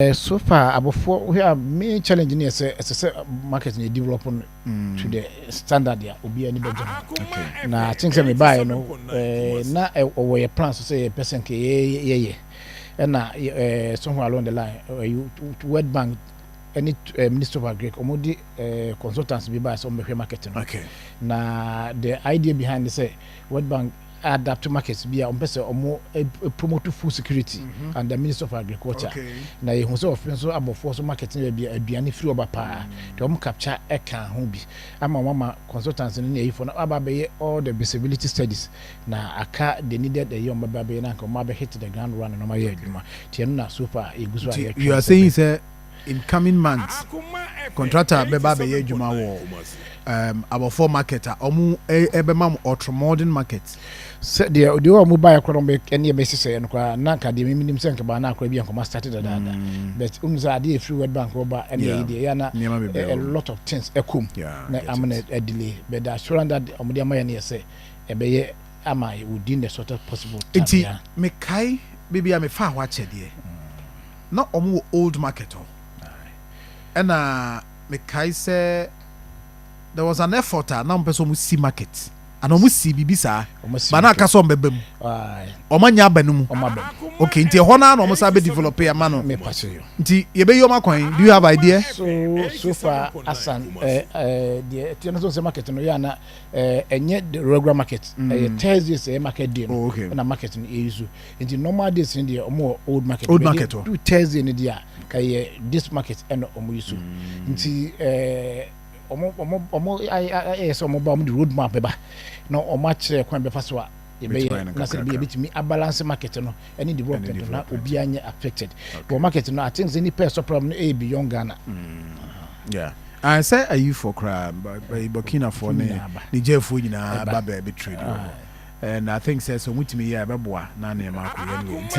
So far abɔfoɔ wohwɛ a main challenge no yɛ sɛ ɛsɛ sɛ market no develop no to the standard a obiara ni bɛgye no na akyɛn sɛ mebaeɛ no na ɔwɔ yɛ plan so sɛ yɛpɛ sɛ nka yɛyɛ ɛna somewhere along the line world bank ɛne ministry of agric ɔmo de consultants bi baeɛ sɛ ɔmo bɛhwɛ market no na the idea behind ne sɛ world bank adapto market bi a ɔmpɛ sɛ ɔmo promote food security mhm. and the minister of agriculture na yɛhu sɛ ɔfe nso abɔfoɔ so market no baabi aduane firi ɔba paa nti ɔmo capture ɛka ho bi ama ɔmo ama consultants no ne ayifoɔ no aba abɛyɛ all the visibility studies na aka the needed ɛyɛ ɔmo bɛba abɛyɛ na nka ɔmo abɛhit the ground run na ɔmo ayɛ adwuma tiɛ no na so far yɛgu so a yɛtwe you are saying sɛ incoming months contractor bɛba abɛyɛ adwuma wɔ um, abɔfoɔ market a ɔmo ɛbɛma mo ɔtromɔden market. sɛ deɛ deɛ wɔ ɔmo baeɛ koraa ɔmo ɛne ɛbɛ sisɛeɛ no koraa na nka deɛ mimi nim sɛ nkɛbaa na akora bi nkɔmɔ start dadaada mm. but ɔmo sɛ adeɛ efiri world bank wɔba ɛne ɛyi deɛ yɛ na a lot of things ɛkɔm na ama na ɛdelay but the assurance that ɔmo de ama yɛ no yɛ sɛ ɛbɛyɛ ama within the shortest possible time. nti mekae baabi a mefaa hɔ akyɛdeɛ Na wɔn wɔ old market hɔ ɛna me kae sɛ there was an effort a na wɔn pɛ sɛ wɔn si market ana wɔn si biribi saa ba na aka sɛ wɔn bɛba mu wɔn anya aba no mu okay nti ɛhɔ naa na wɔn san bɛ develop yɛ ma no nti yɛbɛyi wɔn akwan do you have idea. so so far asan ɛɛ eh, ɛɛ eh, deɛ ɛtiɛ no so sɛ market no yɛ ana ɛɛ eh, ɛnyɛ the regular market ɛyɛ mm. thursdays ɛyɛ market day no ɛna oh, market no yɛ yi so. nti normal days ni deɛ ɔmo wɔ old market old market hɔ do thursday ni deɛ ka yɛ this market ɛna ɔmo yi so mm. nti ɛɛ ɔmo ɔmo ɔmo ayɛ sɛ ɔmo ba ɔmo de road map bɛba na ɔmo akyerɛ kwan bɛfa so a yɛbɛyɛ na sɛ yɛbɛtumi abalance market no ɛne development na obiara nyɛ affected wɔ market no i think sɛ nipa ɛsɔ problem no ɛyɛ beyond ghana mm. yeah. Ae sɛ ayifoɔ koraa by Burkinafoɔ ne Nigerfoɔ nyinaa ba baabi trade wɔ hɔ and I think sɛ sɛ ɔmo tumi yɛ a ɛbɛboa na nneɛma akɔ yie anyway nti